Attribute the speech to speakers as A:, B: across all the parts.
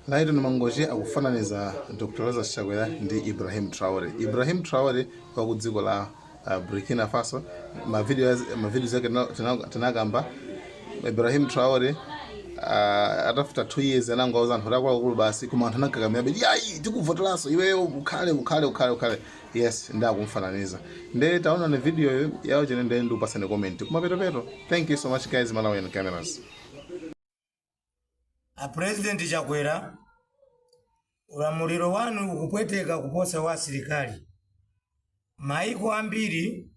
A: Lyton Mangochi akufananiza Dr Lazarus Chakwera ndi Ibrahim Traore. Ibrahim Traore wa ku dziko la uh, Burkina Faso, mavidiyo mavidiyo zake tina- tina- tinakamba Ibrahim Traore uh, atafika 2 years anangowauza anthu akuluakulu basi koma anthu anakakamira bet iyayi tikuvoteranso iweyo ukhale ukhale ukhale ukhale yes nde akumfananiza nde taonani video yo yawo kaye nde ndikupasani comment kumapeto peto thank you so much guys malawian cameras
B: a president chakwera ulamuliro wanu ukupweteka kuposa wa asilikali maiko ambiri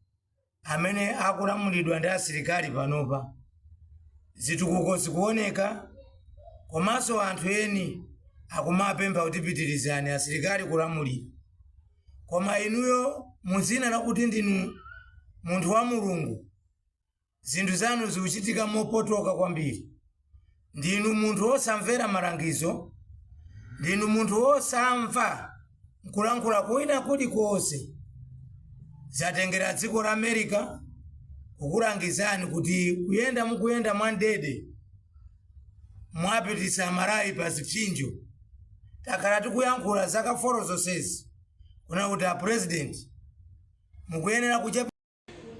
B: amene akulamulidwa ndi asilikali panopa zitukuko zikuoneka komanso anthu eni akumapempha kuti pitirizani asilikali kulamulira koma inuyo muzina lakuti ndinu munthu wa mulungu Zinthu zanu zikuchitika mopotoka kwambiri. Ndinu munthu wosamvera malangizo. Ndinu munthu wosamva n'kulankhula kwina kulikonse. Zatengera dziko la America kukulangizani kuti kuyenda mukuyenda mwamdidi. Mwapititsa Amalawi pa zipsinjo. Takhala tikuyankhula zaka foro zonsezi kunena kuti a President mukuyenera kuchepa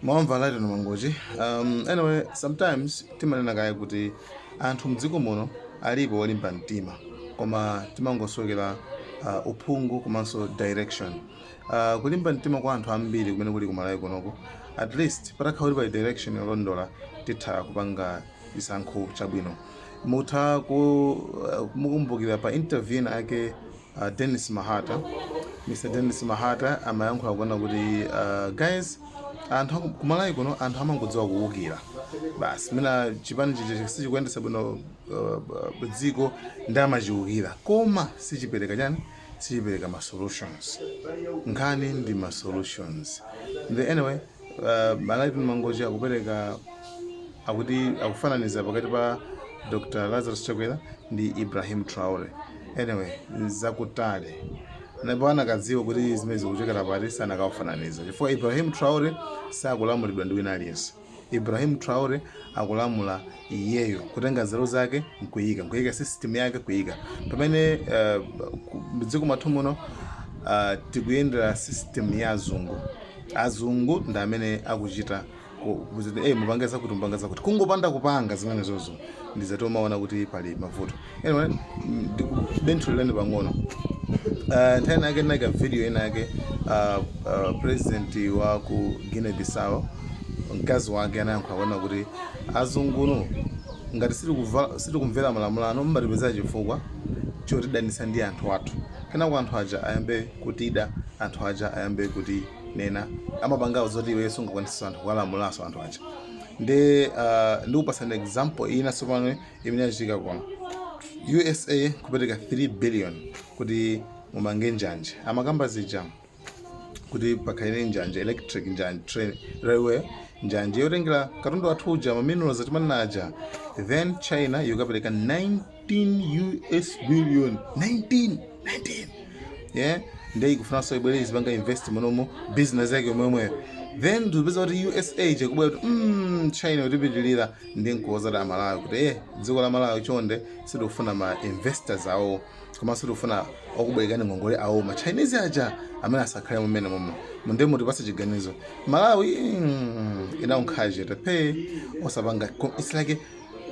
B: mwamva
A: Lyton Mangochi um, anyway sometimes timanena kaye kuti anthu mdziko muno alipo olimba mtima koma timangosowekera uh, uphungu komanso direction uh, kulimba mtima kwa anthu ambiri kumene kuli kumalawi kunoko at least patakhala kuti pali direction yolondola titha kupanga chisankho chabwino mutha ku- uh, kumukumbukira pa interview ina yake A Denis Mahata, Mr Denis Mahata amayankhula kunena kuti uh, guys anthu aku- kumalawi kuno anthu amangodziwa kuwukira basi mmene chipani chichi sichikuyendesa bwino uh, uh, dziko nde amachiwukira koma sichipereka chani sichipereka ma solutions nkhani ndi ma solutions the anyway Uh, Lyton Mangochi akupereka akuti akufananiza pakati pa Dr. Lazarus Chakwera ndi Ibrahim Traore. Anyway, zakutali ndipo anakadziwa kuti zimene zikuchokera pati sanakawafananiza chifukwa Ibrahim Traore sakulamulidwa ndi wina aliyense. Ibrahim Traore akulamula iyeyo kutenga nzeru zake nkuyika nkuyika system yake kuyika pamene uh, mdziko mwathu muno uh, tikuyendera system ya azungu azungu ndi amene akuchita hey, eh, mupange zakuti mupange zakuti kungopanda kupanga zimenezozo ndizoti umaona kuti pali mavuto anyway ndikubenthulirani pang'ono uh, nthawi inake ndinaika video inake uh, uh, president wa ku guinea bissau mkazi wake anayankhula kunena kuti azungunu ngati sitikuva- sitikumvera malamulo ano mumatipezera chifukwa chotidanisa ndi anthu athu kenako anthu aja ayambe kutida anthu aja ayambe kutinena amapangano zoti iwe sungakwanitse anthu kuwalamulaso anthu aja ndi uh, ndikupasani example ina sopano imene yachitika kuno usa kupereka 3 billion kuti mumange njanje amakamba zija kuti pakhale njanje electric njanje train railway njanje yotengera katundu wathu uja maminerals timanena aja then china ikukapereka 19 us billion 19 19 yeah ndiye ikufunanso ibwere izipanga invest munomo business yake yomweyomweyo then tikupeza kuti usa ija ikubwera kuti mm, china yotipitirira ndi nkuwuza Amalawi kuti e dziko la malawi chonde sitikufuna ma investors awo komanso sitikufuna okubwerekani ngongole awo ma chinese aja amene asakhale mmenemo ndiye mutipase chiganizo malawi mm, inangokhala chete osapanga ko- it's like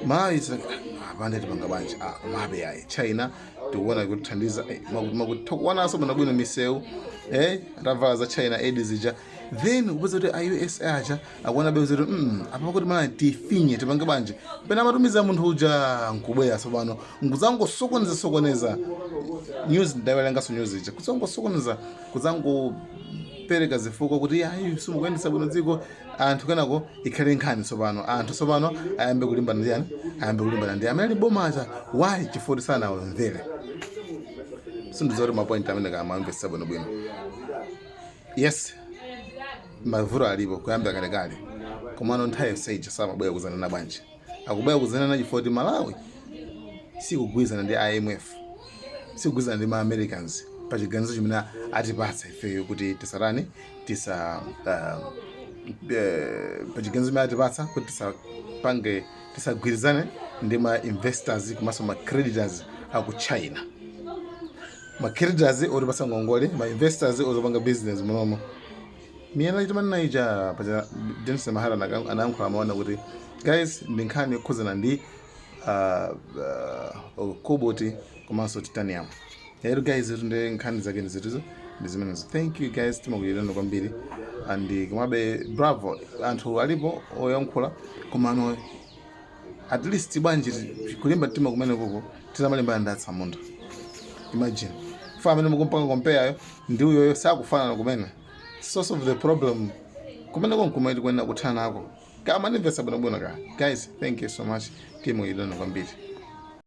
A: malawi it's like, ah, apande tipanga bwanji ah, komabe ayi china tikuona ikutithandiza eh, maku- makuti tikuonanso bwinobwino misewu eh, atavala za china aid zija then kupeza kuti a usa aja akuona bwezi kuti mm, apa pakuti Malawi tifinye tipange bwanji pena amatumiza munthu uja nkubwera tsopano nkuzangosokoneza sokoneza news ndawerengaso news ija kuzangosokoneza kuzangopereka zifukwa kuti ayi simukuyendesa bwino dziko anthu kenako ikhale nkhani tsopano anthu tsopano ayambe kulimbana ndi ndani ayambe kulimbana ndi amene ali boma aja why chifukwa kuti sanawamvere sindidziwa kuti mapoint amenewa akumamvesa bwinobwino Yes, mavuto alipo kuyambira kalekale, komano nthawi yonse ija samabwera kuzanena bwanji? Akubwera kuzanena chifukwa kuti Malawi sikugwirizana ndi IMF, sikugwirizana ndi ma Americans pa chiganizo chimene atipatsa ifeyo kuti tisatani tisa uh, eh, pa chiganizo chimene atipatsa kuti tisapange tisagwirizane ndi ma investors komanso ma creditors aku China. ma creditors otipasa ngongole ma investors ozopanga business munomo miyala itimanena ija paja Dennis Mahata anaka- anayankhula amanena kuti guys ndi nkhani yokhuzana ndi ah, ah, cobalt komanso titanium ero guys itu ndi nkhani zake ndi zituzo ndi zimenezo thank you guys timakunyadirani kwambiri and komabe bravo anthu alipo oyankhula komano at least bwanji ti- kulimba mtima kumeneko titamalimbana ndi atsamunda imagine fa amene mukumpanga compareyo ndi uyoyo sakufanana kumene source of the problem kumeneko nkumene tikuyenera kuthana nako mukamandimvesa bwinobwino ka guys thank you so much timakunyadirani kwambiri